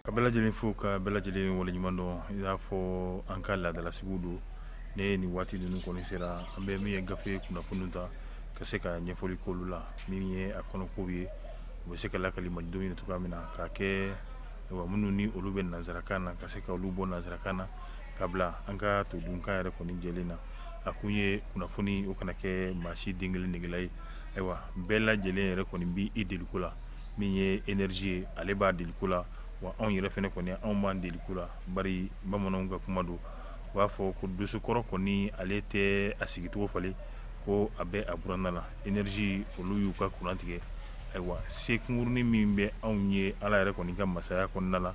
Ka bɛɛ lajɛlen fo ka bɛɛ lajɛlen waleɲuman dɔn i n'a fɔ an ka laadalasigiw don ne ni waati ninnu kɔni sera an bɛ min ye gafe kunnafoni ta ka se ka ɲɛfɔli k'olu la min ye a kɔnɔko ye u bɛ se ka lakali malidenw ye cogoya min na k'a kɛ minnu ni olu bɛ nanzarakan na ka se ka olu bɔ nanzarakan na ka bila an ka todunkan yɛrɛ kɔni jɛlen na a kun ye kunnafoni o kana kɛ maa si den kelen negela ye ayiwa bɛɛ lajɛlen yɛrɛ kɔni b'i deliko la min ye energie ye ale b'a deliko la wa anw yɛrɛ fɛnɛ kɔni anw b'an deliko la bari bamananw ka kuma don u b'a fɔ ko dosokɔrɔ kɔni ale tɛ a sigicogo falen ko a bɛ a buranna na energie olu y'u ka courant tigɛ ayiwa se kunkurunin min bɛ anw ye Ala yɛrɛ kɔni ka masaya kɔnɔna la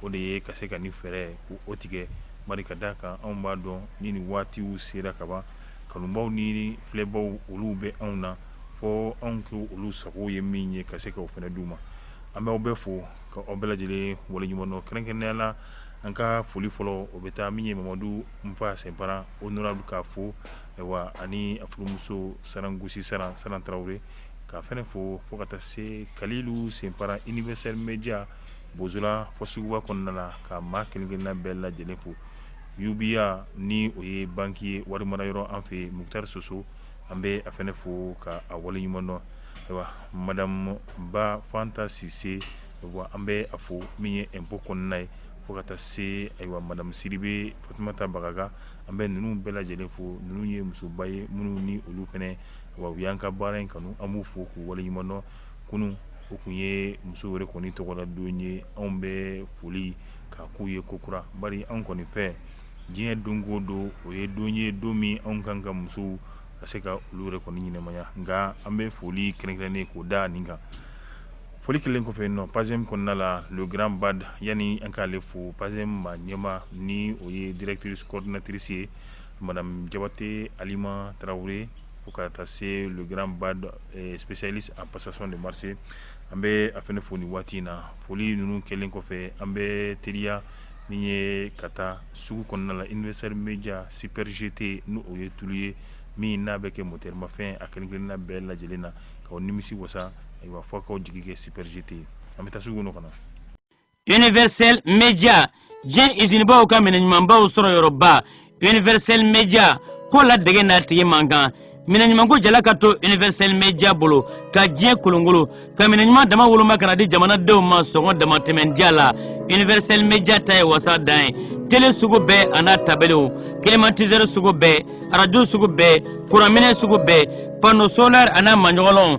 o de ye ka se ka ni fɛɛrɛ k'o tigɛ bari ka d'a kan anw b'a dɔn ni nin waatiw sera kaban kanubaw ni filɛbaw olu bɛ anw na fɔ anw k'olu sago ye min ye ka se k'o fɛnɛ d'u ma an bɛ aw bɛɛ fo ka aw bɛɛ lajɛlen waleɲuman dɔn kɛrɛnkɛrɛnnenya la an ka foli fɔlɔ o bɛ taa min ye mamadu nfa sɛnpara honorable k'a fo ani a furumuso sarangosi saran tarawele k'a fɛnɛ fo fo ka taa se kalilu sɛnpara universel media bozola fɔ suguba kɔnɔna na ka maa kelen-kelenna bɛɛ lajɛlen fo UBA ni o ye banki ye wari mara yɔrɔ an fɛ mukutari soso An bɛ a fɛnɛ fo ka a waleɲuman dɔn ayiwa madamu ba fanta sise an bɛ a fo min ye impôt kɔnɔna ye fo ka taa se ayiwa madamu sidibe fatumata bagaga an bɛ ninnu bɛɛ lajɛlen fo ninnu ye musoba ye minnu ni olu fɛnɛ u y'an ka baara in kanu an b'u fo k'u waleɲuman dɔn kunun o kun ye muso yɛrɛ kɔni tɔgɔla don ye anw bɛ foli k'a k'u ye kokura bari anw kɔni fɛ diɲɛ don o don o ye don ye don min anw kan ka musow ka se ka olu yɛrɛ kɔni ɲɛnamaya nka an bɛ foli kɛrɛnkɛrɛnnen k'o da nin kan foli kɛlen kɔfɛ yen nɔ PACEM kɔnɔna la le grand ba yani an k'ale fo PACEM maa ɲɛmaa ni o ye directrice coordinatrice ye madamu jabate alima tarawele fo ka taa se le grand ba spécialiste en passation de marché an bɛ a fɛnɛ fo nin waati in na foli ninnu kɛlen kɔfɛ an bɛ teriya Min ye ka taa sugu kɔnɔna la universel media Super GT n' o ye tulu ye min n'a bɛ kɛ motɛrimafɛn a kelen-kelenna bɛɛ lajɛlen na k'aw nimisi wasa ayiwa fɔ k'aw jigi kɛ Super GT ye an bɛ taa sugu kɔnɔ ka na universel media diɲɛ izinibaw ka minɛ ɲumanbaw sɔrɔ yɔrɔba universel media ko la dege n'a tigi man kan minɛ ɲumanko jala ka to universel media bolo ka diɲɛ kolonkolon ka minɛ ɲuman dama woloma ka na di jamanadenw ma sɔngɔ damatɛmɛn diya la universel media ta ye wasa dan ye tele sugu bɛɛ a n'a tabaliw climatiseur sugu bɛɛ arajo sugu bɛɛ kuranminɛ sugu bɛɛ panneau solaire a n'a maɲɔgɔnlɔnw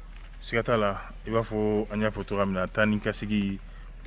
Siga t'a la i b'a fɔ an y'a fɔ cogoya min na taa ni ka segin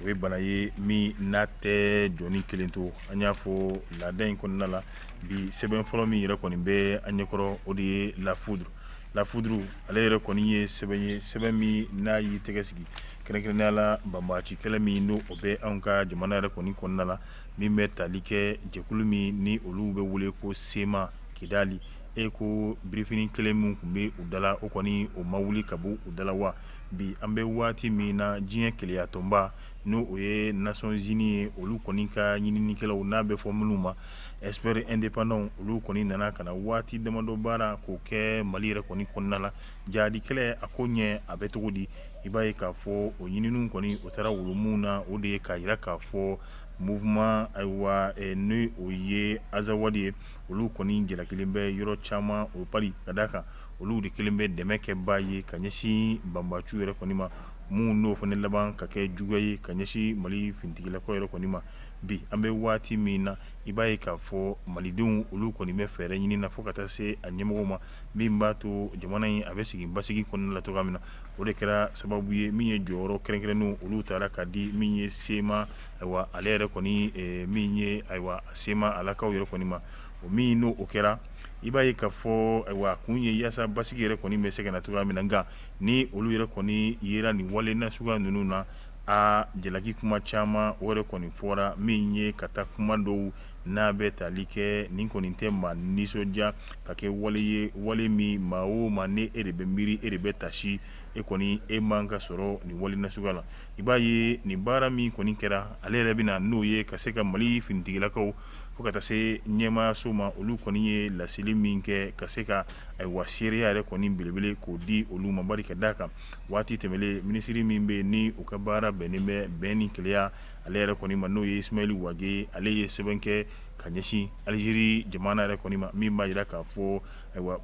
o ye bana ye min n'a tɛ jɔni kelen to an y'a fɔ laada in kɔnɔna la bi sɛbɛn fɔlɔ min yɛrɛ kɔni bɛ an ɲɛkɔrɔ o de ye La Foudre La Foudre ale yɛrɛ kɔni ye sɛbɛn ye sɛbɛn min n'a y'i tɛgɛ sigi kɛrɛnkɛrɛnnenya la banbaci kɛlɛ min n'o bɛ an ka jamana yɛrɛ kɔni kɔnɔna la min bɛ tali kɛ jɛkulu min ni olu bɛ wele ko CMA kidali E ko birifini kelen min tun bɛ u dala o kɔni o ma wuli ka bɔ u dala wa bi an bɛ waati min na diɲɛ keleyatɔnba n'o o ye Nations Unies ye olu kɔni ka ɲininikɛlaw n'a bɛ fɔ minnu ma experts indépendants olu kɔni nana ka na waati damadɔ baara k'o kɛ mali yɛrɛ kɔni kɔnɔna la jaadikɛlɛ a ko ɲɛ a bɛ cogo di i b'a ye k'a fɔ o ɲinini kɔni o taara wolo mun na o de ye k'a jira k'a fɔ mouvement ayiwa n' o ye azawadi ye olu kɔni jalakilen bɛ yɔrɔ caman o bari ka d' a kan olu de kelen bɛ dɛmɛkɛbaa ye ka ɲɛsin banbaciw yɛrɛ kɔni ma min n'o fana laban ka kɛ juguya ye ka ɲɛsin mali finitigilakaw yɛrɛ kɔni ma bi an bɛ waati min na i b'a ye k'a fɔ malidenw olu kɔni bɛ fɛɛrɛ ɲini na fo ka taa se a ɲɛmɔgɔ ma min b'a to jamana in a bɛ sigi basigi kɔnɔna la cogoya min na o de kɛra sababu ye min ye jɔyɔrɔ kɛrɛnkɛrɛnnenw olu taara ka di min ye CMA ayiwa ale yɛrɛ kɔni min ye ayiwa CMA lakaw yɛrɛ kɔni ma o min n' o kɛra i b'a ye k'a fɔ ayiwa kun ye yaasa basigi yɛrɛ kɔni bɛ se ka na cogoya min na nka ni olu yɛrɛ kɔni yera nin wale nasuguya ninnu na a jalaki kuma caman o yɛrɛ kɔni fɔra min ye ka taa kuma dɔw n'a bɛ tali kɛ nin kɔni tɛ maa nisɔndiya ka kɛ wale ye wale min maa o maa ni e de bɛ miiri e de bɛ taasi e kɔni e man ka sɔrɔ nin wale nasuguya la i b'a ye nin baara min kɔni kɛra ale yɛrɛ bɛ na n'o ye ka se ka mali finitigilakaw fo ka taa se ɲɛmaayaso ma olu kɔni ye laseli min kɛ ka se ka ayiwa seereya yɛrɛ kɔni belebele k'o di olu ma bari ka d' a kan waati tɛmɛnlen minisiri min bɛ ni u ka baara bɛnnen bɛ bɛn ni keleya ale yɛrɛ kɔni ma n'o ye Ismaël Wage ale ye sɛbɛn kɛ ka ɲɛsin alizeri jamana yɛrɛ kɔni ma min b'a jira k'a fɔ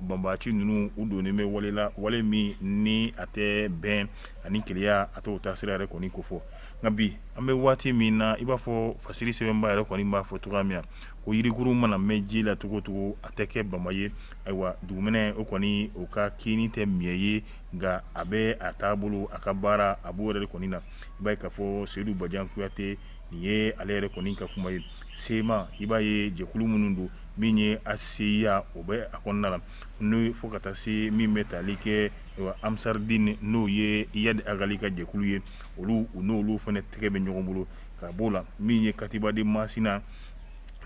banbaci ninnu u donnen bɛ wale la wale min ni a tɛ bɛn ani keleya a t'o taasira yɛrɛ kɔni kofɔ nka bi an bɛ waati min na i b'a fɔ fasiri sɛbɛnbaa yɛrɛ kɔni b'a fɔ cogoya min na ko yirikurun mana mɛn ji la cogo o cogo a tɛ kɛ bama ye ayiwa dugumɛnɛ o kɔni o ka kini tɛ miɲɛ ye nka a bɛ a taabolo a ka baara a b'o yɛrɛ kɔni na i b'a ye k'a fɔ seyidu bajan kuyate nin ye ale yɛrɛ kɔni ka kuma ye CMA i b'a ye jɛkulu minnu don min ye HCUA o bɛ a kɔnɔna la n'o ye fo ka taa se min bɛ tali kɛ Ansar Dine n'o ye Iyad Agali ka jɛkulu ye olu u n'olu fana tɛgɛ bɛ ɲɔgɔn bolo ka b'o la min ye katiba de masina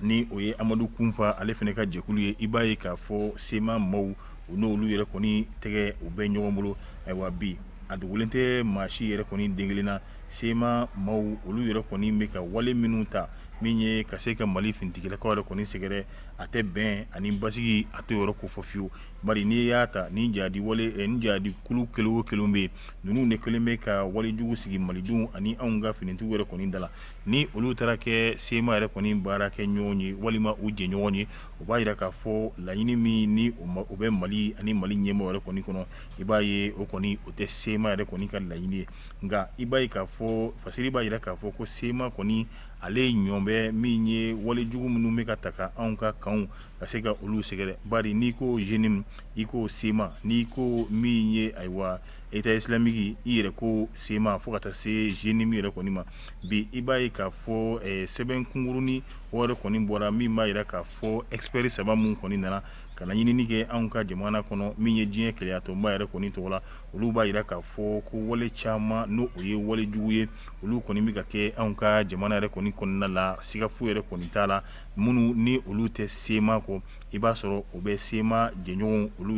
ni o ye amadu kunfa ale fana ka jɛkulu ye i b'a ye k'a fɔ sema maaw u n'olu yɛrɛ kɔni tɛgɛ u bɛ ɲɔgɔn bolo ayiwa bi a dogolen tɛ maa si yɛrɛ kɔni den kelen na sema maaw olu yɛrɛ kɔni bɛ ka wale minnu ta min ye ka se ka mali finitigilakaw yɛrɛ kɔni sɛgɛrɛ a tɛ bɛn ani basigi a tɛ yɔrɔ ko fɔ fiyewu Bari n'i y'a ta ni jihadi ni jihadi kulu kelen o kelen bɛ yen ninnu de kɛlen bɛ ka walejugu sigi malidenw ani anw ka finitigiw yɛrɛ kɔni da la ni olu taara kɛ sema yɛrɛ kɔni baarakɛɲɔgɔn ye walima u jɛɲɔgɔn ye o b'a jira k'a fɔ laɲini min ni o bɛ mali ani mali ɲɛmɔgɔw yɛrɛ kɔni kɔnɔ i b'a ye o kɔni o tɛ sema yɛrɛ kɔni ka laɲini ye nka i b'a ye k'a fɔ fasiri b'a jira k'a fɔ ko sema kɔni ale ye ɲɔn bɛ min ye walejugu minnu bɛ ka ta ka anw kakaw ka se ka olu sɛgɛrɛ bari n'i ko jenim i ko sema n'i ko min ye ayiwa État islamique i yɛrɛ ko sema fo ka taa se jenim yɛrɛ kɔni ma bi i b'a ye k'a fɔ sɛbɛn kunkurunnin yɛrɛ kɔni bɔra min b'a jira k'a fɔ expert saba minnu kɔni nana ka na ɲinini kɛ anw ka jamana kɔnɔ min ye diɲɛ kelenyatɔnba yɛrɛ kɔni tɔgɔ la olu b'a jira k'a fɔ ko wale caman n'o o ye walejugu ye olu kɔni bɛ ka kɛ anw ka jamana yɛrɛ kɔni kɔnɔna la siga foyi yɛrɛ kɔni t'a la minnu ni olu tɛ sema kɔ i b'a sɔrɔ u bɛ sema jɛɲɔgɔnw olu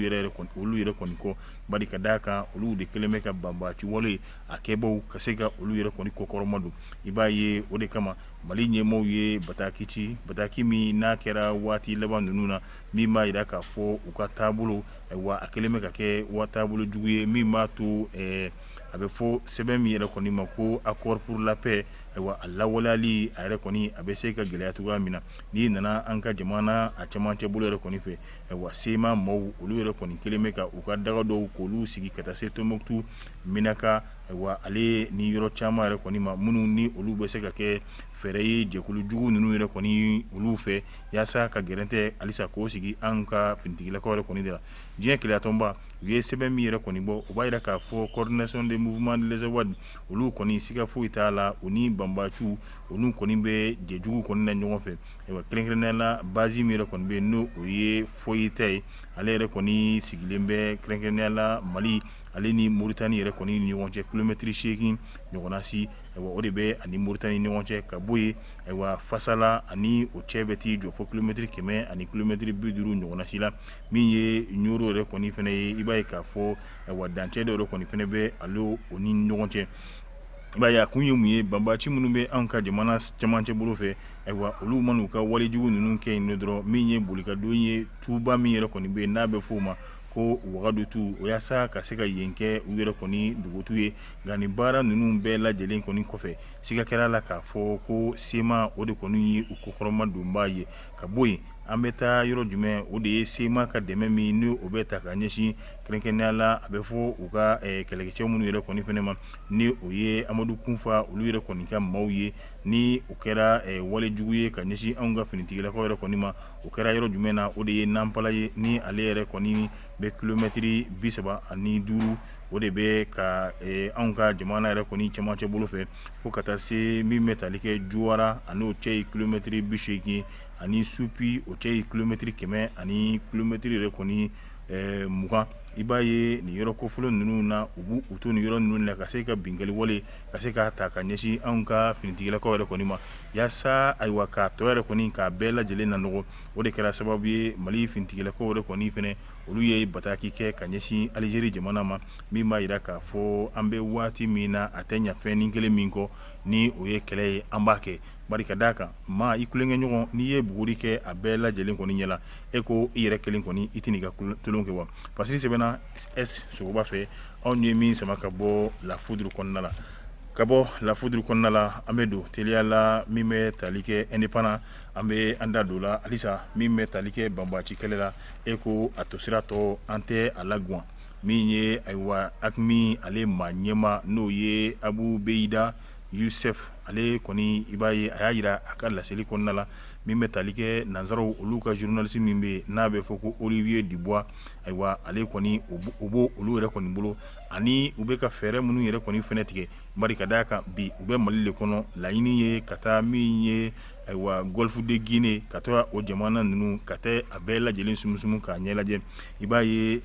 olu yɛrɛ kɔni kɔ bari ka d'a kan olu de kɛlen bɛ ka banbaci wale a kɛbaw ka se ka olu yɛrɛ kɔni kɔkɔrɔma don i b'a ye o de kama mali ɲɛmɔgɔw ye bataki ci bataki min n'a kɛra waati laban ninnu na min b'a jira k'a fɔ u ka taabolo wa a kɛlen bɛ ka kɛ taabolo jugu ye min b'a to a bɛ fɔ sɛbɛn min yɛrɛ kɔni ma ko accord pour la paix Ayiwa a lawaleyali a yɛrɛ kɔni a bɛ se ka gɛlɛya cogoya min na n'i nana an ka jamana a camancɛ bolo yɛrɛ kɔni fɛ ayiwa sema maaw olu yɛrɛ kɔni kɛlen bɛ ka u ka daga dɔw k'olu sigi ka taa se tumutu menaka ayiwa ale ni yɔrɔ caman yɛrɛ kɔni ma minnu ni olu bɛ se ka kɛ fɛɛrɛ ye jɛkulujugu ninnu yɛrɛ kɔni olu fɛ yaasa ka gɛrɛntɛ halisa k'o sigi an ka finitigilakaw yɛrɛ kɔni da la diɲɛ kelenyatɔnba u ye sɛbɛn min yɛrɛ kɔni bɔ o b'a jira k'a fɔ coordination des mouvements de l'azawad olu kɔni siga foyi t'a la u ni banbaciw olu kɔni bɛ jɛjugu kɔni na ɲɔgɔn fɛ ayiwa kɛrɛnkɛrɛnnenya la bazi min yɛrɛ kɔni bɛ yen n'o o ye foyita ye ale yɛrɛ kɔni sigilen bɛ kɛrɛnkɛrɛnnenya la mali ale ni moritani yɛrɛ kɔni ni ɲɔgɔn cɛ kilomɛtiri seegin ɲɔgɔnnasi ayiwa o de bɛ a ni moritani ni ɲɔgɔn cɛ ka bɔ yen ayiwa fasala ani o cɛ bɛ t'i jɔ fo kilomɛtiri kɛmɛ ani kilomɛtiri bi duuru ɲɔgɔnnasi la min ye ɲoro yɛrɛ kɔni fana ye i b'a ye k'a fɔ wa dancɛ dɔ yɛrɛ kɔni fɛnɛ bɛ an ni u ni ɲɔgɔn cɛ i b'a ye a kun ye mun ye banbaci minnu bɛ an ka jamana cɛmancɛ bolo fɛ ayiwa olu man'u ka walejugu ninnu kɛ yen dɔrɔn min ye bolikadon ye tuba min yɛrɛ kɔni bɛ yen n'a bɛ f'o ma ko wagadu tu o yaasa ka se ka yen kɛ u yɛrɛ kɔni dugutu ye nka nin baara ninnu bɛɛ lajɛlen kɔni kɔfɛ siga kɛr'a la k'a fɔ ko CMA o de kɔni ye u kɔkɔrɔmadonbaa ye ka bɔ yen an bɛ taa yɔrɔ jumɛn o de ye CMA ka dɛmɛ min n' o bɛ ta ka ɲɛsin Kɛrɛnkɛrɛnnenya la a bɛ fɔ u ka kɛlɛkɛcɛ minnu yɛrɛ kɔni fɛnɛ ma ni o ye amadu kunfa olu yɛrɛ kɔni ka maaw ye ni o kɛra walejugu ye ka ɲɛsin anw ka finitigilakaw yɛrɛ kɔni ma o kɛra yɔrɔ jumɛn na o de ye nanpala ye ni ale yɛrɛ kɔni bɛ kilomɛtiri bi saba ani duuru o de bɛ ka anw ka jamana yɛrɛ kɔni cɛmancɛ bolo fɛ fo ka taa se min bɛ tali kɛ juwara ani o cɛ ye kilomɛtiri bi seegin ani sunpi o cɛ ye kilomɛtiri kɛmɛ ani kilomɛtiri yɛrɛ kɔni Mugan i b'a ye nin yɔrɔ kofɔlen ninnu na u b' u to nin yɔrɔ ninnu na ka se ka binkaliwale ka se k'a ta ka ɲɛsin anw ka finitigilakaw yɛrɛ kɔni ma yaasa ayiwa k'a tɔ yɛrɛ kɔni k'a bɛɛ lajɛlen na nɔgɔ o de kɛra sababu ye mali finitigilakaw yɛrɛ kɔni fɛnɛ olu ye bataki kɛ ka ɲɛsin alizeri jamana ma min b'a yira k'a fɔ an bɛ waati min na a tɛ ɲa fɛnnin kelen min kɔ ni o ye kɛlɛ ye an b'a kɛ Bari ka d'a kan maa i tulonkɛ ɲɔgɔn n'i ye buguri kɛ a bɛɛ lajɛlen kɔni ɲɛ la e ko i yɛrɛ kelen kɔni i tɛn'i ka tulon kɛ wa parce que sɛbɛnna S sogoba fɛ anw ye min sama ka bɔ La Foudre kɔnɔna la ka bɔ La Foudre kɔnɔna la an bɛ don teliya la min bɛ tali kɛ Indépendant an bɛ an da don la halisa min bɛ tali kɛ banbaci kɛlɛ la e ko a tosira tɔ an tɛ a lagwan min ye ayiwa AQMI ale maa ɲɛma n'o ye abu beyida Yusuf ale kɔni i b'a ye a y'a yira a ka laseli kɔnɔna la min bɛ tali kɛ nansaraw olu ka zurunalisi min bɛ n'a bɛ fɔ ko Olivier Dubois ayiwa ale kɔni u b' olu yɛrɛ kɔni bolo ani u bɛ ka fɛɛrɛ minnu yɛrɛ kɔni fɛnɛ tigɛ bari ka d'a kan bi u bɛ mali de kɔnɔ laɲini ye ka taa min ye ayiwa Golfe de Guinée ka taa o jamana ninnu ka taa a bɛɛ lajɛlen sumusumu k'a ɲɛ lajɛ i b'a ye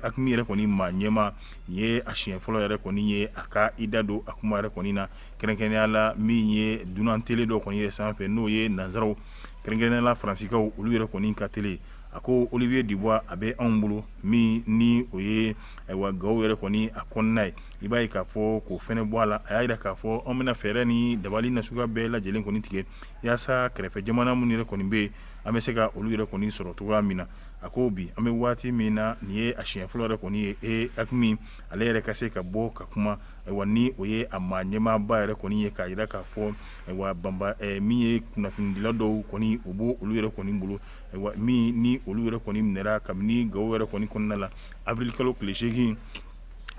AQMI yɛrɛ kɔni maa ɲɛma Nin ye a siɲɛ fɔlɔ yɛrɛ kɔni ye a ka i da don a kuma yɛrɛ kɔni na kɛrɛnkɛrɛnnenya la min ye dunan tele dɔ kɔni ye sanfɛ n'o ye nansaraw kɛrɛnkɛrɛnnenya la faransikaw olu yɛrɛ kɔni ka tele a ko Olivier Dubois a bɛ anw bolo min ni o ye ayiwa gawo yɛrɛ kɔni a kɔnɔna ye i b'a ye k'a fɔ k'o fɛnɛ bɔ a la a y'a yira k'a fɔ anw bɛna fɛɛrɛ ni dabali nasuguya bɛɛ lajɛlen kɔni tigɛ yaasa kɛrɛfɛ jamana minnu yɛrɛ kɔni bɛ yen an bɛ se ka olu yɛrɛ kɔni sɔrɔ cogoya min na a ko bi an bɛ waati min na nin ye a siɲɛ fɔlɔ yɛrɛ kɔni ye AQMI ale yɛrɛ ka se ka bɔ ka kuma wa ni o ye a maa ɲɛmaaba yɛrɛ kɔni ye k'a yira k'a fɔ ayiwa min ye kunnafonidila dɔw kɔni u b' olu yɛrɛ kɔni bolo min ni olu yɛrɛ kɔni minɛna kabini Gao yɛrɛ kɔni kɔnɔna la avril kalo tile segin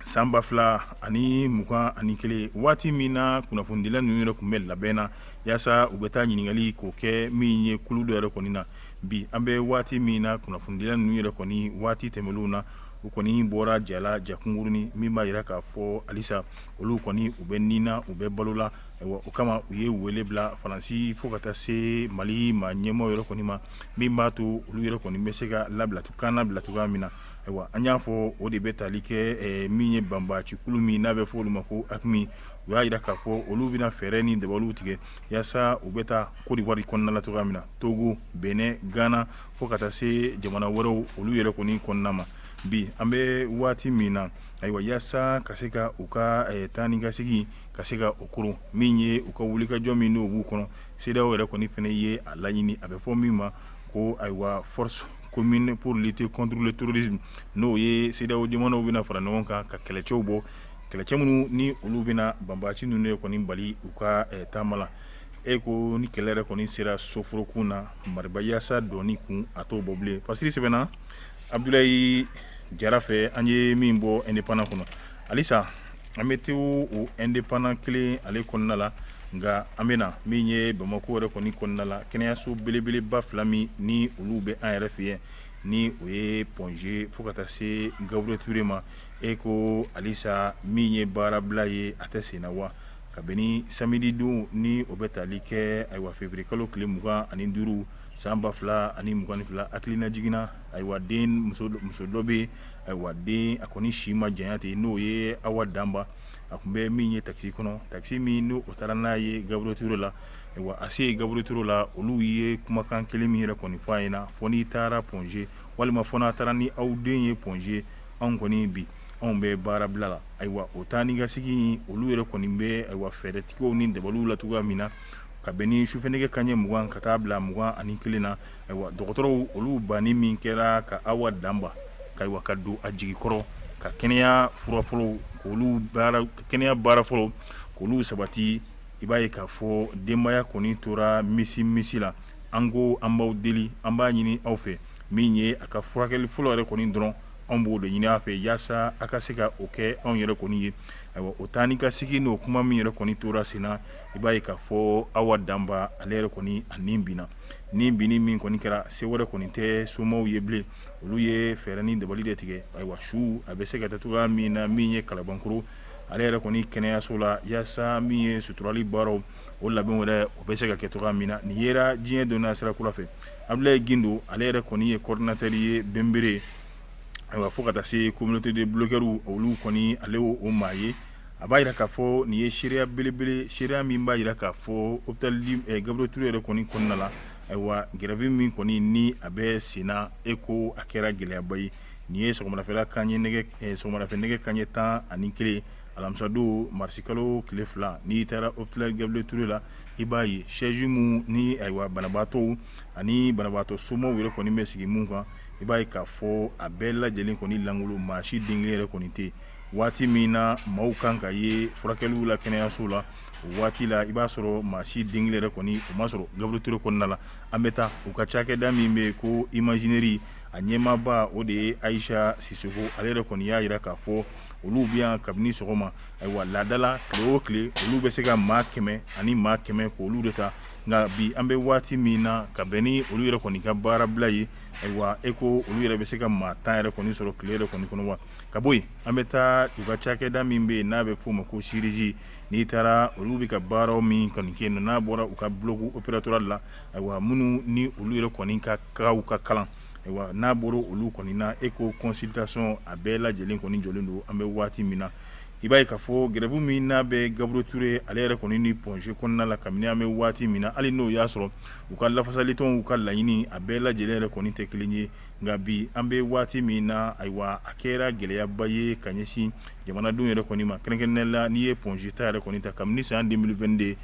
san ba fila ani mugan ani kelen waati min na kunnafonidila ninnu yɛrɛ tun bɛ labɛn na yaasa u bɛ taa ɲininkali k'o kɛ min ye kulu dɔ yɛrɛ kɔni na Bi an bɛ waati min na kunnafonidila ninnu yɛrɛ kɔni waati tɛmɛnenw na u kɔni bɔra ja la ja kunkurunnin min b'a yira k'a fɔ halisa olu kɔni u bɛ nii na u bɛ balo la o kama u ye wele bila faransi fo ka taa se mali maa ɲɛmaaw yɛrɛ kɔni ma min b'a to olu yɛrɛ kɔni bɛ se ka kannabila cogoya min na ayiwa an y'a fɔ o de bɛ taali kɛ min ye banbacikulu min n'a bɛ fɔ olu ma ko AQMI u y'a yira k'a fɔ olu bɛna fɛɛrɛ ni dabaliw tigɛ yaasa u bɛ taa Côte d'Ivoire kɔnɔna la cogoya min na togo Bénin Ghana fo ka taa se jamana wɛrɛw olu yɛrɛ kɔni kɔnɔna ma bi an bɛ waati min na ayiwa yaasa ka se ka u ka taa ni ka segin ka se ka o koron min ye u ka wulikajɔ min n'o b'u kɔnɔ CEDEAO yɛrɛ kɔni fɛnɛ ye a laɲini a bɛ fɔ min ma ko ayiwa force commune pour lutter contre le terrorisme n'o ye CEDEAO jamanaw bɛna fara ɲɔgɔn kan ka kɛlɛcɛw bɔ kɛlɛcɛ minnu ni olu bɛna banbaci ninnu yɛrɛ kɔni bali u ka taama la E ko ni kɛlɛ yɛrɛ kɔni sera soforokun na maribayasa dɔn kun a t'o bɔ bilen pasi sɛbɛnna abudulayi jara fɛ an ye min bɔ Indépendant kɔnɔ halisa an bɛ t'o Indépendant kelen ale kɔnɔna la nka an bɛ na min ye bamakɔ yɛrɛ kɔni kɔnɔna la kɛnɛyaso belebeleba fila min ni olu bɛ an yɛrɛ fɛ yen ni o ye Point G fo ka taa se Gabriel Touré ma e ko halisa min ye baarabila ye a tɛ sen na wa kabini samedi don ni o bɛ taali kɛ ayiwa février kalo tile mugan ani duuru san ba fila ani mugan ani fila hakilina jiginna ayiwa denmuso dɔ bɛ ayiwa den a kɔni si ma janya ten n'o ye awa danba a kun bɛ min ye takisi kɔnɔ takisi min n'o taara n'a ye Gabriel Touré la ayiwa a se Gabriel Touré la olu ye kumakan kelen min yɛrɛ kɔni fɔ a ɲɛna fo n'i taara Point G walima fo n'a taara ni aw den ye Point G anw kɔni bi anw bɛ baarabila la ayiwa o taa ni ka segin olu yɛrɛ kɔni bɛ ayiwa fɛɛrɛtigɛw ni dabaliw la cogoya min na ka bɛn ni su fɛ nɛgɛ kanɲɛ mugan ka taa bila mugan ani kelen na ayiwa dɔgɔtɔrɔw olu banni min kɛra ka awa danba ka don a jigi kɔrɔ ka kɛnɛya fura fɔlɔ kɛnɛya baara fɔlɔ k'olu sabati i b'a ye k'a fɔ denbaya kɔni tora misi misi la an ko an b'aw deli an b'a ɲini aw fɛ min ye a ka furakɛli fɔlɔ yɛrɛ kɔni dɔrɔn anw b'o de ɲini a fɛ yaasa a ka se ka o kɛ anw yɛrɛ kɔni ye o taa ni ka segin o kuma min yɛrɛ kɔni tora sen na i b'a ye k'a fɔ Awa Danba ale yɛrɛ kɔni a nin bi ni bi min kɔni kɛra se wɛrɛ kɔni tɛ somaw ye bilen olu ye fɛɛrɛ ni dabali de tigɛ ayiwa su a bɛ se ka taa cogoya min na min ye Kalabankoro ale yɛrɛ kɔni kɛnɛyaso la yaasa min ye suturali baaraw o labɛn wɛrɛ o bɛ se ka kɛ cogoya min na nin yera diɲɛ donna sira kura fɛ Abulaye Gindo ale yɛrɛ kɔni ye coordinateur ye Benbere ayiwa fo ka taa se communauté de blogueurs olu kɔni ale ye o maa ye a b'a jira k'a fɔ nin ye seereya belebele ye seereya min b'a jira k'a fɔ hôpital du Gabriel Touré yɛrɛ kɔni kɔnɔna la ayiwa grève min kɔni ni a bɛ senna e ko a kɛra gɛlɛyaba ye nin ye sɔgɔmadafɛla kanɲɛ nɛgɛ sɔgɔmadafɛ nɛgɛ kanɲɛ 11 alamisa-don marisi kalo tile fila n'i taara hôpital Gabriel Touré la i b'a ye chaise minnu ni ayiwa banabaatɔw ani banabaatɔ somaw yɛrɛ kɔni bɛ sigi minnu kan i b'a ye k'a fɔ a bɛɛ lajɛlen kɔni lankolon maa si den kelen yɛrɛ kɔni tɛ waati min na maaw kan ka ye furakɛliw la kɛnɛyaso la o waati la i b'a sɔrɔ maa si den kelen yɛrɛ kɔni o ma sɔrɔ Gabriel Touré kɔnɔna la an bɛ taa u ka cakɛda min bɛ yen ko imagerie a ɲɛmaaba o de ye Ayisa Sisɔkɔ ale yɛrɛ kɔni y'a jira k'a fɔ olu bɛ yan kabini sɔgɔma ayiwa laada la tile o tile olu bɛ se ka maa kɛmɛ ani maa kɛmɛ k'olu de ta nka bi an bɛ waati min na ka bɛn ni olu yɛrɛ kɔni ka baarabila ye ayiwa e ko olu yɛrɛ bɛ se ka maa tan yɛrɛ kɔni sɔrɔ tile yɛrɛ kɔni kɔnɔ wa ka bɔ yen an bɛ taa u ka cakɛda min bɛ yen n'a bɛ f'o ma ko chirurgie n'i taara olu bɛ ka baaraw min kɔni kɛ n'a bɔra u ka bloc opératoire la ayiwa minnu ni olu yɛrɛ kɔni ka kalan Ayiwa n'a bɔra olu kɔni na e ko consultation a bɛɛ lajɛlen kɔni jɔlen don an bɛ waati min na i b'a ye k'a fɔ grève min n'a bɛ Gabriel Touré ale yɛrɛ kɔni ni Point G kɔnɔna la kabini an bɛ waati min na hali n'o y'a sɔrɔ u ka lafasalitɔnw ka laɲini a bɛɛ lajɛlen yɛrɛ kɔni tɛ kelen ye nka bi an bɛ waati min na ayiwa a kɛra gɛlɛyaba ye ka ɲɛsin jamanadenw yɛrɛ kɔni ma kɛrɛnkɛrɛnnenya la n'i ye Point G ta yɛrɛ kɔni ta kabini san 2022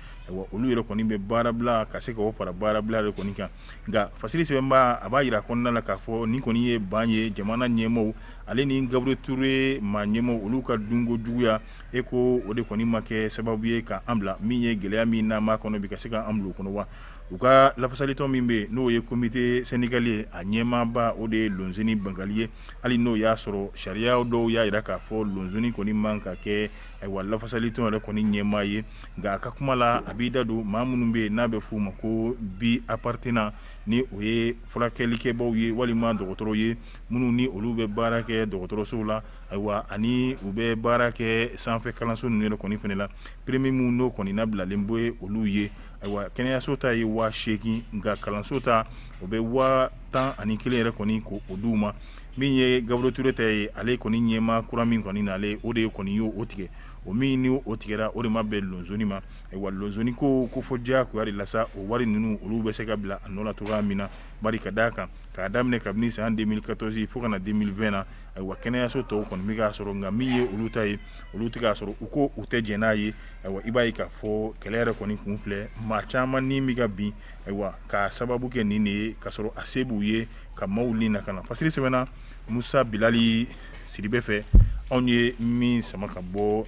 olu yɛrɛ kɔni bɛ baarabila ka se k'o fara baarabila yɛrɛ kɔni kan nka fasiri sɛbɛnba a b'a jira a kɔnɔna na k'a fɔ nin kɔni ye ban ye jamana ɲɛmaaw ale ni Gabriel Touré maa ɲɛmaaw olu ka dunko juguya e ko o de kɔni ma kɛ sababu ye ka an bila min ye gɛlɛya min n'an b'a kɔnɔ bi ka se ka an bila o kɔnɔ wa? U ka lafasalitɔn min bɛ yen n'o ye comité syndical ye a ɲɛmaaba o de ye Lonseni Bangali ye hali n'o y'a sɔrɔ sariya dɔw y'a jira k'a fɔ Lonseni kɔni man ka kɛ ayiwa lafasalitɔn yɛrɛ kɔni ɲɛmaa ye Nka a ka kuma la a b'i da don maa minnu bɛ yen n'a bɛ f'u ma ko bi-appartenant ni o ye furakɛlikɛbaw ye walima dɔgɔtɔrɔ ye minnu ni olu bɛ baara kɛ dɔgɔtɔrɔsow la ayiwa ani u bɛ baara kɛ sanfɛ kalanso ninnu yɛrɛ kɔni fana la prime min n'o kɔni nabilalen bɛ olu ye ayiwa kɛnɛyaso ta ye waa seegin nka kalanso ta o bɛ waa tan ani kelen yɛrɛ kɔni ko o d'u ma min ye gabriel touré ta ye ale kɔni ɲɛmaa kura min kɔni nalen o de kɔni y' o tigɛ o min ni o tigɛra o de ma bɛn loseni ma ayiwa loseni ko fɔ diyagoya de la sa o wari ninnu olu bɛ se ka bila a nɔ la cogoya min na bari ka d'a kan k'a daminɛ kabini san deux mille quatorze fo ka na deux mille vingt na ayiwa kɛnɛyaso tɔw kɔni bɛ k'a sɔrɔ nka min ye olu ta ye olu tɛ k'a sɔrɔ u ko u tɛ jɛn n'a ye ayiwa i b'a ye k'a fɔ kɛlɛ yɛrɛ kɔni kun filɛ maa caman ni bɛ ka bin ayiwa k'a sababu kɛ nin de ye ka sɔrɔ a se b'u ye ka maaw ni nakana fasiri sɛbɛnna musa bilali sidibe fɛ anw ye min sama ka bɔ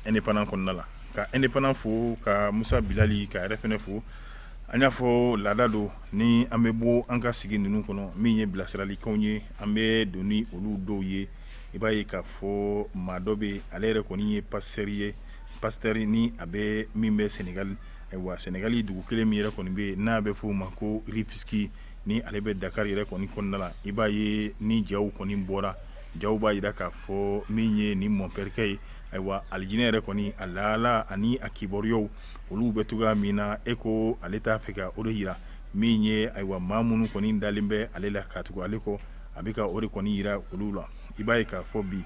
indépendant kɔnɔna la ka indépendant fo ka musa bilali ka yɛrɛ fana fo an y'a fɔ laada don ni an bɛ bɔ an ka sigi ninnu kɔnɔ min ye bilasiralikanw ye an bɛ don ni olu dɔw ye i b'a ye k'a fɔ maa dɔ bɛ ale yɛrɛ kɔni ye pasteur ye pasteur nin a bɛ min bɛ senegali ayiwa senegali dugu kelen min yɛrɛ kɔni bɛ yen n'a bɛ f'o ma ko rufisque ni ale bɛ dakari yɛrɛ kɔni kɔnɔna la i b'a ye ni jaw kɔni bɔra jaw b'a jira k'a fɔ min ye ni mɔnpɛrikɛ ye ayiwa alijinɛ yɛrɛ kɔni a lahala ani a kibaruyaw olu bɛ cogoya min na e ko ale t'a fɛ ka o de jira min ye ayiwa maa minnu kɔni dalen bɛ ale la ka tugu ale kɔ a bɛ ka o de kɔni jira olu la i b'a ye k'a fɔ bi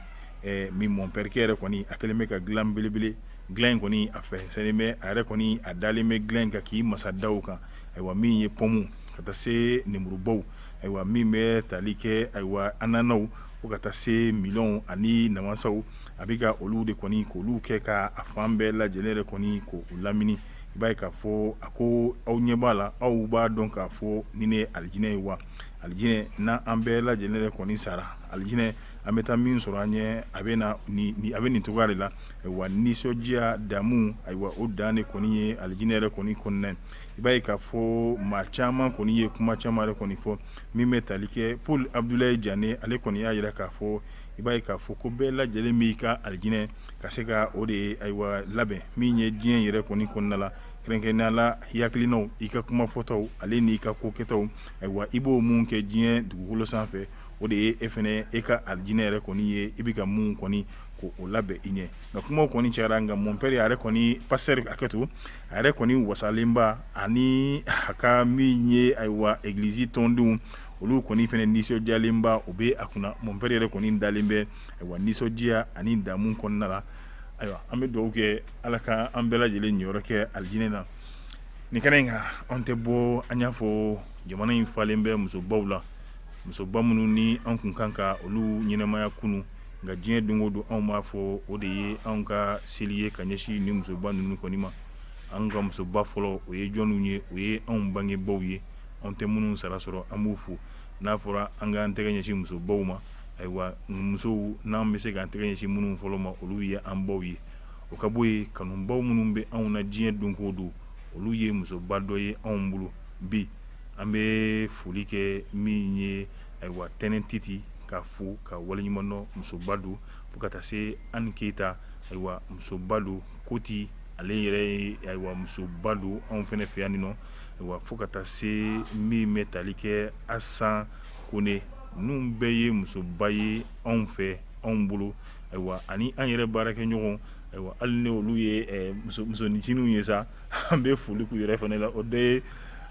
min mɔnpɛrikɛ yɛrɛ kɔni a kɛlen bɛ ka dilan belebele dilan in kɔni a fɛnsɛnnen bɛ a yɛrɛ kɔni a dalen bɛ dilan in kan k'i masada kan ayiwa min ye pɔmu ka taa se nemurubaw ayiwa min bɛ tali kɛ ayiwa ananaw fo ka taa se melɔnw ani namasaw a bɛ ka olu de kɔni k'olu kɛ ka a fan bɛɛ lajɛlen yɛrɛ kɔni k'o lamini i b'a ye k'a fɔ a ko aw ɲɛ b'a la aw b'a dɔn k'a fɔ nin de ye alijinɛ ye wa alijinɛ n'an bɛɛ lajɛlen yɛrɛ kɔni sara alijinɛ an bɛ taa min sɔrɔ an ɲɛ a bɛ na a bɛ nin cogoya de la wa nisɔndiya damu ayiwa o dan de kɔni ye alijinɛ yɛrɛ kɔni kɔnɔna I b'a ye k'a fɔ maa caman kɔni ye kuma caman kɔni fɔ min bɛ tali kɛ paul abudula jan ale kɔni y'a jira k'a fɔ i b'a ye k'a fɔ ko bɛɛ lajɛlen b'i ka alijinɛ ka se ka o de ye ayiwa labɛn min ye diɲɛ yɛrɛ kɔni kɔnɔna la kɛrɛnkɛrɛnnenya la hakilinaw i ka kuma fɔtaw ale n'i ka ko kɛtaw ayiwa i b'o mun kɛ diɲɛ dugukolo sanfɛ o de ye e fana e ka alijinɛ yɛrɛ kɔni ye i bɛ ka mun kɔni k'o labɛn i ɲɛ nka kuma kɔni cayara nka mɔnpɛri yɛrɛ kɔni pasteur ka hakɛ to a yɛrɛ kɔni wasalenba ani a ka min ye ayiwa egilizi tɔndenw olu kɔni fana nisɔndiyalenba u bɛ a kunna mon père yɛrɛ kɔni dalen bɛ ayiwa nisɔndiya ani damu kɔnɔna na ayiwa an bɛ dugawu kɛ ala ka an bɛɛ lajɛlen yɔrɔ kɛ alijinɛ na nin kɛnɛ in kan an tɛ bɔ an y'a fɔ jamana in falen bɛ musobaw la musoba minnu ni an tun kan ka olu ɲɛnamaya kunun nka diɲɛ don o don anw b'a fɔ o de ye anw ka seli ye ka ɲɛsin ni musoba ninnu kɔni ma an ka musoba fɔlɔ o ye jɔnw ye o ye anw bangebaw ye anw tɛ minnu sara sɔrɔ an b'u fo n'a fɔra an k'an tɛgɛ ɲɛsin musobaw ma ayiwa musow n'an bɛ se k'an tɛgɛ ɲɛsin minnu fɔlɔ ma olu ye an baw ye o ka bɔ yen kanubaw minnu bɛ anw na diɲɛ don o don olu ye musoba dɔ ye anw bolo bi an bɛ foli kɛ min ye ayiwa Tɛnɛn Titi k'a fo k'a waleɲumandɔn musoba don fo ka taa se Ani Keyita ayiwa musoba don koti ale yɛrɛ ye ayiwa musoba don anw fana fɛ yan nin nɔ ayiwa fo ka taa se min bɛ tali kɛ Asan Kone nin bɛɛ ye musoba ye anw fɛ anw bolo ayiwa ani an yɛrɛ baarakɛɲɔgɔn ayiwa hali ni olu ye musonincininw ye sa An bɛ foli k'u yɛrɛ fana la o de ye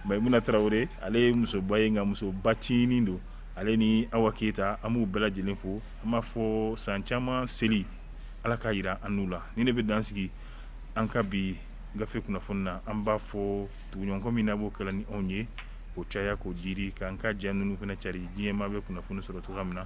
Mayimuna Tarawele ale ye musoba ye nka musoba ncinin don ale ni Awa Keyita an b'u bɛɛ lajɛlen fo an b'a fɔ san caman seli Ala k'a jira an n'u la nin de bɛ dan sigi an ka bi gafe kunnafoni na an b'a fɔ tuguɲɔgɔnkɔ min n'a b'o kɛla ni anw ye o caya k'o jiidi k'an ka ja ninnu fana cari diɲɛ maa bɛ kunnafoni sɔrɔ cogoya min na